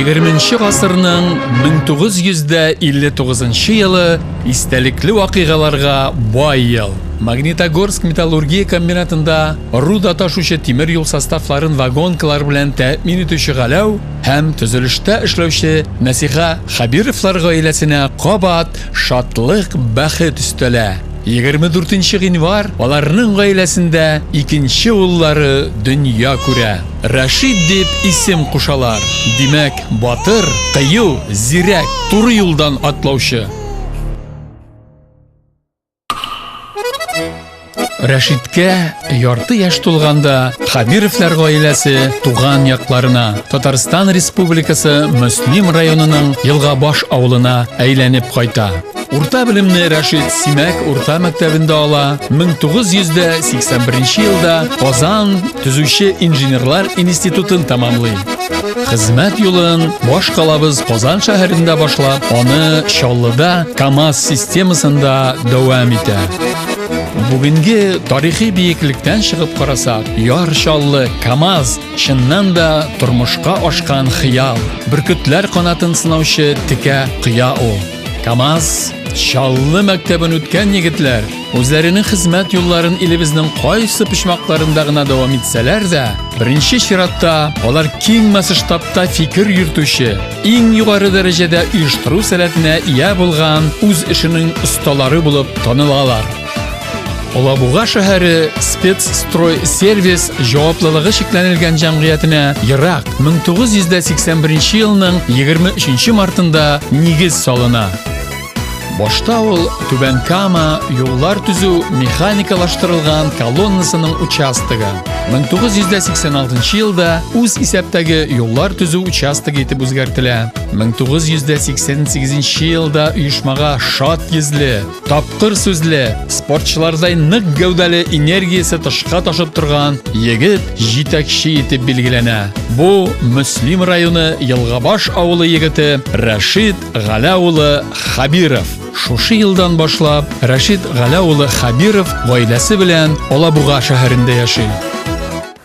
20 гасырның 1959 елы истәлекле вакыйгаларга бай ел. Магнитогорск металлургия комбинатында руда ташучы тимер юл составларын вагонкалар белән тәэмин итүче Галәү һәм төзелештә эшләүче Нәсиха Хәбировлар гаиләсенә кабат шатлык, бәхет өстәлә. 24 нче гыйнвар аларның гаиләсендә икенче уллары дөнья күрә. Рәшит дип исем кушалар, димәк, батыр, кыю, зирәк, туры юлдан атлаучы. Рәшиткә ярты яшь тулганда Хәбировлар гаиләсе туган якларына, Татарстан Республикасы Мөслим районының Елгабаш авылына әйләнеп кайта. Урта белемне Рәшит Симәк урта мәктәбендә ала. 1981 елда Казан төзүче инженерлар институтын тәмамлый. Хезмәт юлын баш калабыз Казан шәһәрендә башлап, аны Чаллыда КАМАЗ системасында дәвам итә. Бүгенге тарихи биеклектән чыгып карасак, Яр Чаллы КАМАЗ чыннан да тормышка ашкан хыял, бөркетләр канатын сынаучы текә кыя ул. Камаз Чаллы мәктәбен үткән егетләр үзләренең хезмәт юлларын илебезнең кайсы почмакларында гына дәвам итсәләр дә, беренче чиратта алар киң масштабта фикер йөртүче, иң югары дәрәҗәдә оештыру сәләтенә ия булган үз эшенең осталары булып танылалар. Алабуга шәһәре Спецстрой сервис җаваплылыгы шикләнелгән җәмгыятенә ерак 1981 елның 23 мартында нигез салына. Башта ул Түбән Кама юллар төзү механикалаштырылган колоннасының участогы. 1986 елда үз исәптәге юллар төзү участогы итеп үзгәртелә. 1988 елда оешмага шат йөзле, Тапкыр сүзле, спортчылардай нык гәүдәле энергиясе тышка ташып торган егет җитәкче итеп билгеләнә. Бу Мөслим районы Елгабаш авылы егете Рәшид Галә улы Хабиров. Шушы елдан башлап Рәшид Галә улы Хабиров гаиләсе белән Алабуга шәһәрендә яши.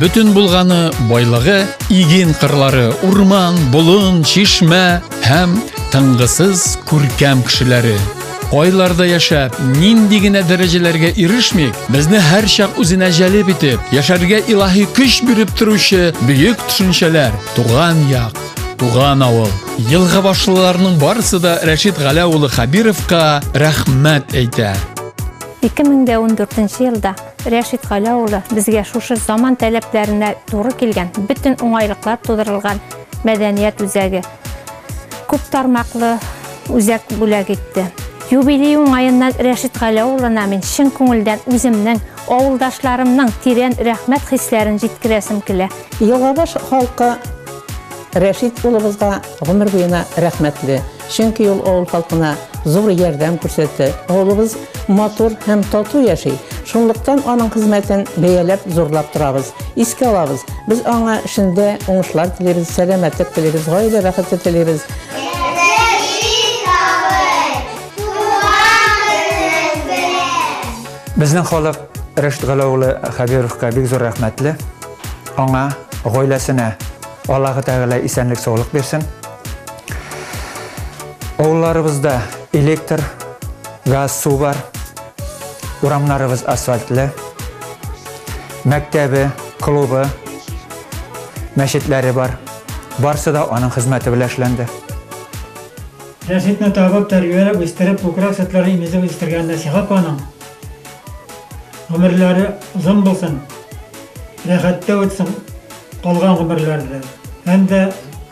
Бөтен булганы байлыгы иген кырлары, урман, болын, чишмә һәм тыңгысыз күркәм кешеләре. Айларда яшәп, нинди генә дәрәҗәләргә ирешмик, безне һәрчак үзенә җәлеп итеп, яшәргә илаһи көч биреп торучы бөек төшенчәләр, туган як, туган авыл. Елга башлыларның барысы да Рәшит Галәулы Хабировка рәхмәт әйтә. 2014 елда Рәшит Галя улы безгә шушы заман таләпләренә туры килгән, бөтен уңайлыклар тудырылган мәдәният үзәге, күп тармаклы үзәк бүләк итте. Юбилей уңаеннан Рәшит Галә улына мин чын күңелдән үземнең, авылдашларымның тирән рәхмәт хисләрен җиткерәсем килә. Елгабаш халкы Рәшит улыбызга гомер буена рәхмәтле. Чөнки ул авыл халкына зур ярдәм күрсәтте. Авылыбыз матур һәм тату яши. Шунлыктан аның хезмәтен бәяләп, зурлап торабыз, искә алабыз. Без аңа эшендә уңышлар телибез, сәламәтлек телибез, гаилә бәхете телибез. Безнең халык Рәшит Галәү улы Хәбировка бик зур рәхмәтле. Аңа, гаиләсенә. Аллаһы Тәгалә исәнлек саулык бирсен. Авылларыбызда электр, газ, су бар. Урамнарыбыз асфальтлы. Мәктәбе, клубы, мәчетләре бар. Барсы да аның хезмәте белән эшләнде. Рәшитне табып, тәрбияләп, үстереп, күкрәк сөтләре имезеп үстергән Нәсиха апаның гомерләре озын булсын, рәхәттә үтсен, Калган гомерләрдә һәм дә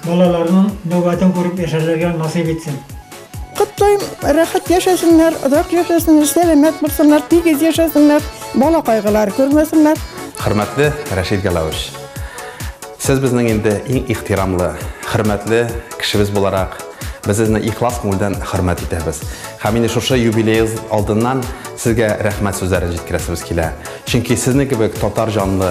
балаларның нәүбәтен күреп яшәрләргә насыйп итсен. Котлыйм, рәхәт яшәсеннәр, озак яшәсеннәр, сәламәт булсыннар, тигез яшәсеннәр, бала кайгылары күрмәсеннәр. Хөрмәтле Рәшит Галәвович! Сез безнең инде иң ихтирамлы, хөрмәтле кешебез буларак, без сезне ихлас күңелдән хөрмәт итәбез. Һәм инде шушы юбилеегыз алдыннан Сезгә рәхмәт сүзләрен җиткерәсебез килә. Чөнки Сезнең кебек татар җанлы,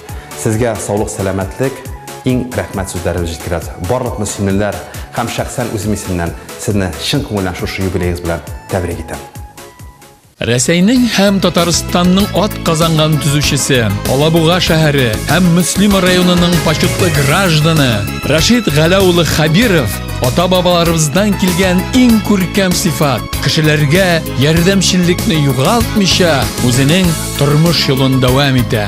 Сезгә саулык-сәламәтлек, иң рәхмәт сүзләрен җиткерәбез. Барлык мөслимлеләр һәм шәхсән үзем исемнән сезне чын күңелдән шушы юбилеегыз белән тәбрик итәм. Рәсәйнең һәм Татарстанның атказанган төзүчесе, Алабуга шәһәре һәм Мөслима районының почетлы гражданы Рашид Галә улы Хәбиров ата-бабаларыбыздан килгән иң күркәм сыйфат, кешеләргә ярдәмчеллекне югалтмыйча, үзенең Тормыш юлын дәвам итә.